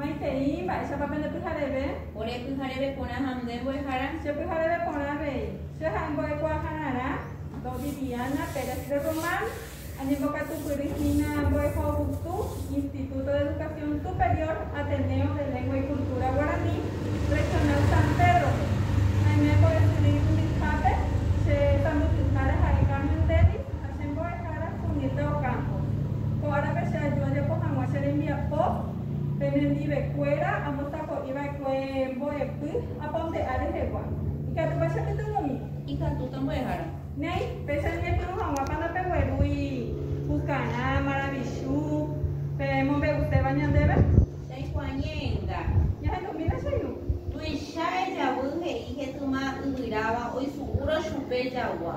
Maitei, mba'éichapa pende pyhareve? Ore pyhareve porã ha nde mbo'ehára. Che pyhareve porã avei. Che ha'e mbo'ekuaahararã. Do Viviana Pérez de Román, añembokatupyry hína mbo'ehovytu Instituto de Educación Superior Ateneo de Lengua y Cultura Guaraní, Regional San Pedro-pe. Naime mbo'esyry umi hápe, che tambyhyhára ha'e Carmen Denis ha che mbo'e. Caras puñete ocampo. Ko árape che aju ajapo hag̃ua che rembiapo penendivekuéra amostako'i va'ekue mbo'epy apa onde ári rehegua. Ikatúpa che pytyvõmi. Ikatúta mbo'ehára. Néi, péicha ñañepyrũ hag̃uápa ndapeguerúi pukarã, maravichu, pe mombe'uséva ñandéve? Ndaikuaa ñe'ẽnga. Ñahendumína che irũ. Tuicha ejavy he'i hetyma yvyráva oisu'úrõ chupe jagua.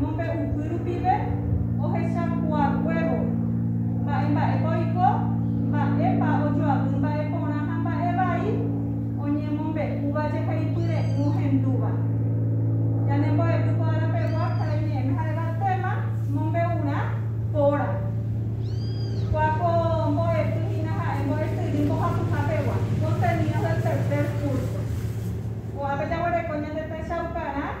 Mombe'upy rupive ohechakuaakuévo, mba'e mba'épa oiko, mba'épa ojoavy mba'e porã ha mba'e vai oñemombe'úva jeheipy re'ỹ ohendúva. Ñane mbo'epy ko ára pegua karai ñe'ẽme jaréva téma mombe'urã póra. Kua ko mbo'epy hína ha'e mbo'esyry mbohapyha pegua, Contenidos del tercer curso. Ko'ápe jaguereko ñande techaukarã.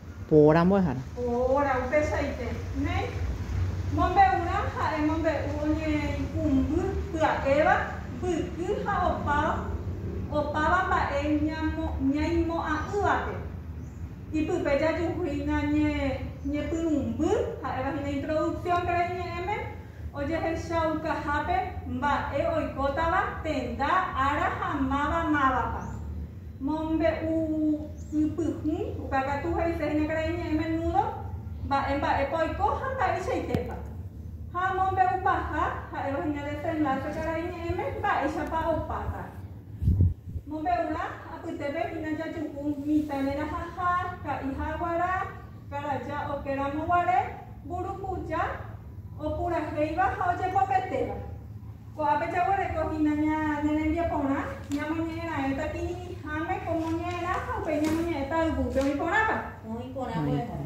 Poóra mbo'ehára. Poóra upeichaite. Ne. Mombe'urã ha'e mombe'u oñeikũmby pya'éva, mbyky ha opa, opáva mba'e ñamo, ñaimo'ã'ỹvape. Ipype jajuhúina ñe, ñepyrũmby, ha'éva hína introducción pe reñe'ẽme, ojehechaukahápe mba'e oikótava, tenda, ára ha máva mávapa. Mombe'u'ypyhũ, uka katu he'ise hína karai ñe'ẽ menúdo mba'e mba'épa oiko ha mba'eichaitépa. Ha mombe'upaha, ha'éva hína desenláse karai ñe'ẽme mba'éichapa opáta. Mombe'urã, apytépe hína jajuhu mitã rerahaha, ka'iha guarã, karaja oke ramo guare, mburukuja, opurahéiva ha ojepopetéva. Ko'ápe jaguereko hína ñane rembiaporã, ñamoñe'ẽra'ẽta kirirĩháme ko moñe'ẽrã ha upéi ñamoñe'ẽta yvýpe oĩ porãpa. Oĩ porã mbo'ehára.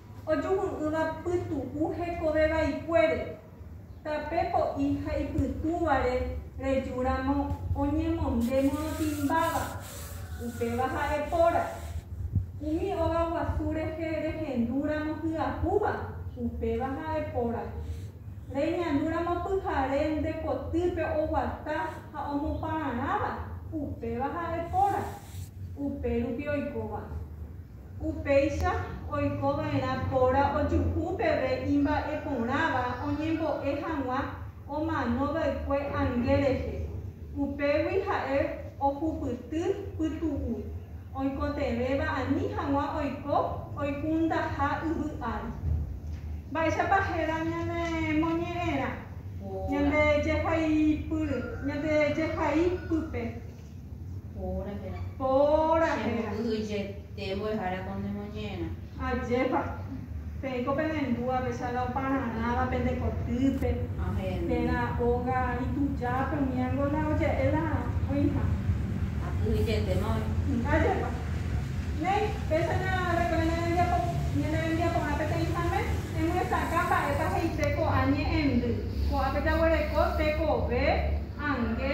ojuhu'ỹva pytu'u hekove vaikuére, tape po'i ha ipytũvare reju ramo oñemonde morotĩmbáva, upéva ha'e póra, umi óga guasu rehe rehendu ramo hyahúva, upéva ha'e póra, reñandu ramo pyhare nde kotýpe oguata ha omopararãva, upéva ha'e póra, upérupi oikóva. Upéicha oiko va'erã póra ojuhu peve imba'e porãva oñembo'e hag̃ua omano va'ekue ange rehe. Upégui ha'e ohupyty pytu'u, oikotevẽva ani hag̃ua oiko oikundaha yvy ári. Mba'éichapa héra ñane moñe'ẽrã ñande jehaipyre, ñande jehai pype? Póra héra. Póra héra. Che mbo'y'yete mbo'ehára ko ne moñe'ẽrã. Ajépa. Peẽ ko pene mbúa péicha la opararãva pende kotýpe. Ahénte. Térã óga itujápe umi ángo la oje'e la oĩha. Akyhyjetéma oĩ. Ajépa. Néi, péicha narekove ne rembiapo, ñane rembiaporã peteĩhame, emyesakã mba'épa he'ise ko'ã ñe'ẽndy. Ko'ápe jaguereko tekove, ange.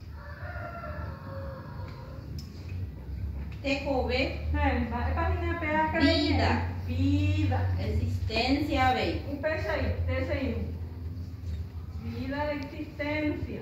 Tekove. Mba'épa hína pe áka reñe'ẽ? Vída. Existencia avei. Upeichaite che irũ. Vída de existencia.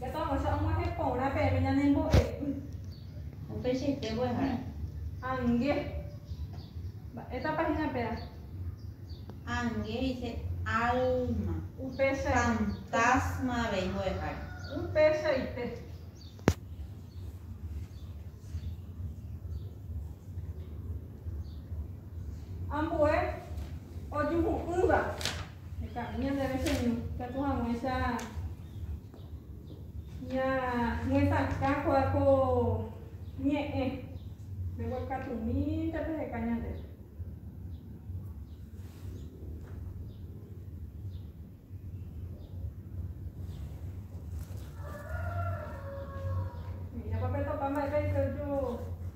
Japavoicha og̃uahẽ porã peẽme ñane mbo'epy. Upeichaite mbo'ehára. Ange. Mba'épa páhina péva? Ange he'ise álma. Upeichaite. Fantásma avei mbo'ehára. Upeichaite. Ambue ojuhu'ỹva. Heka'ỹ ñandéve cheñu, ikatu hag̃uáicha ñañetakã kóva ko ñe'ẽ, mbeguekatũmínte peheka ñandéve. He'íjapa petopa mba'e peiko.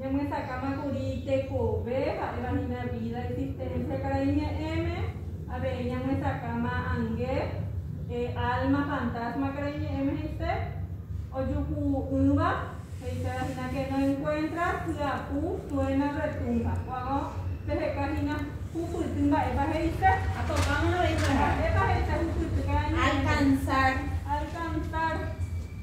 Ñamyesakãma kuri tekove ha'éva hína vída, existencia. Karai ñe'ẽme avei ñamyesakãma ange, alma, fantasma karai ñe'ẽme he'ise, ojuhu'ỹva, he'iséva hína que no encuentra hyapu, suena, retumba. Ko'ág̃a peheka hína hupyty mba'épa he'ise. Mba'épa he'ise hupyty karai ñe'ẽme? Alcanzar. Alcanzar.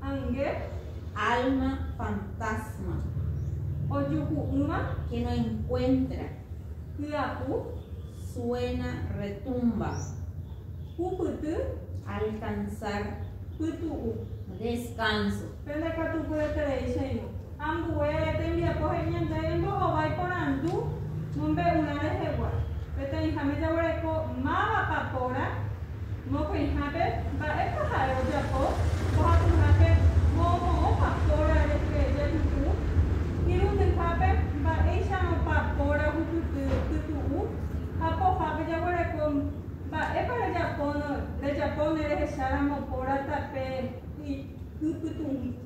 Ange. Alma fantasma. Ojuhu'ỹva que no encuentra. Hyapu, suena, retumba. Hupyty, alcanzar, pytu'u. Descanso. Pende katu pyetereichairõ. Ambue tembiapo he'i ñande rembo'ova iporandu mombe'urã rehegua. Peteĩháme jaguereko mávapa póra, mokõihápe mba'épa ha'e ojapo, mbohapyhápe moõmoõpa póra rehe jepy'u, irundyhápe mba'éicharõpa póra ohupyty pytu'u, ha pohápe jaguereko mba'épa rejapo ne rehecháramo póra tape ypytũgui.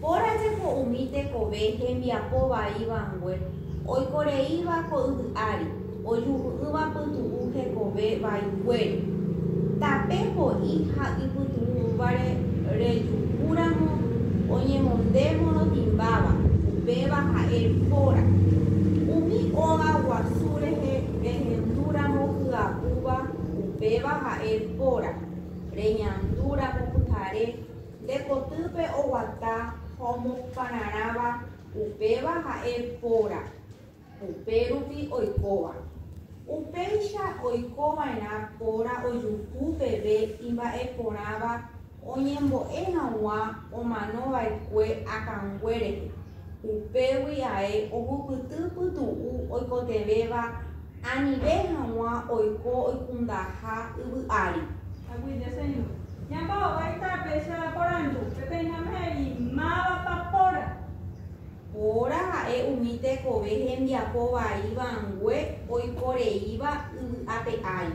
Póra jepo umi tekove hembiapo vai vangue oikoreíva ko yvy ári ojuhu'ỹva pytu'u hekove vaiguére. Tape po'i ha ipytu'ũvare rejuhu ramo oñemonde morotĩmbáva, upéva ha'e póra. Umi óga guasu rehe rehendu ramo hyapúva, upéva ha'e póra. Reñandu ramo pyhare. Nde potýpe oguata ha omopararãva upéva ha'e póra, upérupi oikóva. Upéicha oiko va'erã póra ojuhu peve imba'eporãva oñembo'e hag̃ua omano va'ekue akãngue rehe, upégui ae ohupyty pytu'u oikotevẽva Anive hag̃ua oiko oikundaha yvy ári. Ñamba'ovéi tape che aporandu, peteĩháme he'i, Mávapa póra? Póra ha'e umi tekove hembiapo vai vangue oiko reíva yvy ape ári.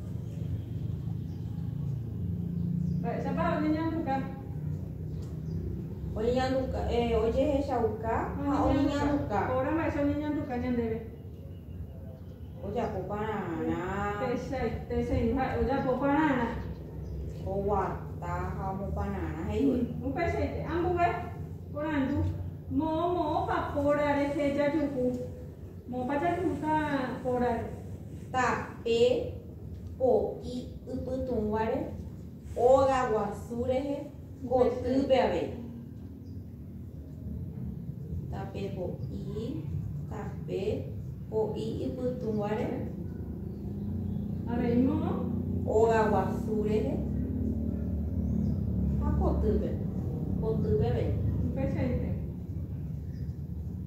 Mba'éichapa oñeñanduka? Oñeñanduka, eh, ojehechauka ha oñeñanduka. Óra mba'éicha oñeñanduka ñandéve? Ojapo pararã. Techaitéi ha'e ojapo pararã. Oguata ha omopararã he'ívo. Mm, upeichaite, ambue porandu moõ moõpa póra rehe jajuhu. Moõpa jajuka órare. Tape po'i ypytũguáre óga guasu rehe kotýpe avei. Tape po'i, tape po'i ypytũguáre. Avei moõ. Óga guasu rehe ha kotýpe, kotýpe avei. Upeichaite.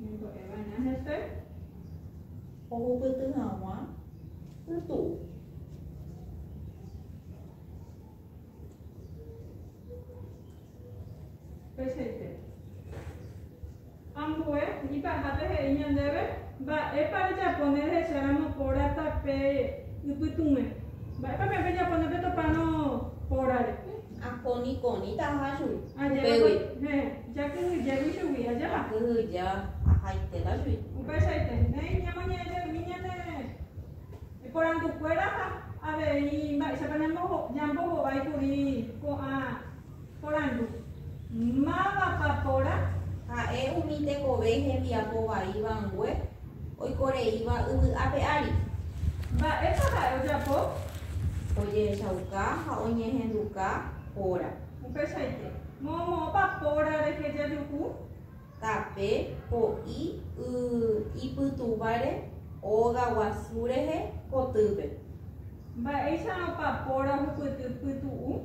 Ñembo'eva'erã hese ohupyty hag̃ua pytu'u. Peichaite. Ambue, ipahápe he'i ñandéve, Mba'épa rejapo ne rehecháramo pórata pe ypytũme? Mba'épa peẽ pejapo ne petopárõ pórare? Akó nikõrĩtaha chugui, upégui. Héẽ, jakyhyjégui chugui, ajépa? Jakyhyje ahaitéta chugui. Upeichaite, néi ñamoñe'ẽjeými ñane porandukuéra ha avei mba'éichapa ñambohovái kuri ko'ã Porandu, Mávapa porã? Ha'e umi tekove hembiapo vai vangue oikoreíva yvy ape ári. Mba'épa ha'e ojapo? Ojehechauka ha oñehenduka póra. Upeichaite, moõmoõpa póra rehe jajuhu? Tape, po'i y ipytũvare óga guasu rehe kotýpe. Mba'éicharõpa póra ohupyty pytu'u?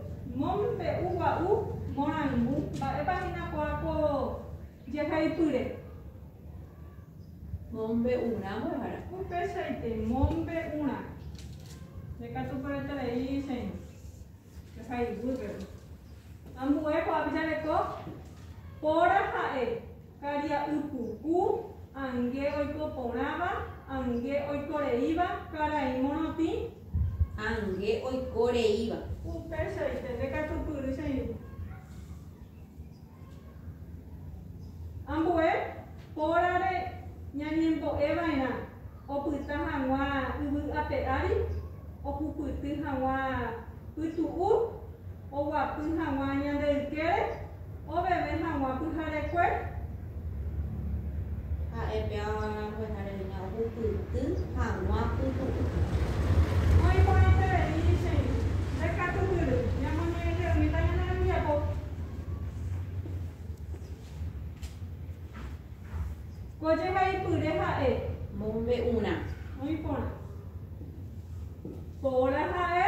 Mom pe'u gua'u morangu mba'épa hína ko'ã ko jehaipyre. Mom pe'u rã mbo'ehára. Upeichaite mom pe'u rã. Ndekatuporetavéi che irũ. Jehayguy pe'u. Ambue ko'ápe jareko póra ha'e. karia'ypuku, ange oiko porãva, ange oiko reíva, karai morotĩ, ange oiko reíva. Upeichaite nde katupyry che irũ. Ambue pórare ñañembo'e va'erã opyta hag̃ua yvy ape ári, ohupyty hag̃ua pytu'u. oguapy hag̃ua ñande ykére oveve hag̃ua pyharekue. Ha'e pe avaña mbo'ehare hína ohupyty hag̃ua pytu'u. Oĩ porãiterei che irũ. Nde katu hyry, ñamoñe'ẽjeýta ñane rembiapo. Ko jehaipyre ha'e. Mombe'urã. Oĩ porã. Póra ha'e.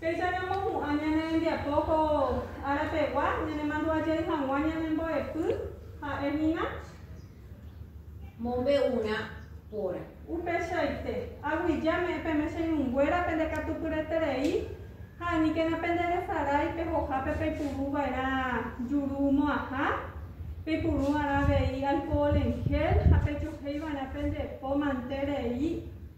Péicha ñamopu'ã ñane rembiapo ko ára pegua ñanemandu'ajey hag̃ua ñane mbo'epy ha'e hína. Mombe'urã póra. Upeichaite, aguija me'ẽ peme che irũnguéra pende katupyreterei ha aníkena pende resarái pe hojápe peipuru va'erã juru mo'ãha, peipurũ'arã avei alkohol en gel ha pejuhéi va'erã pende po mante rei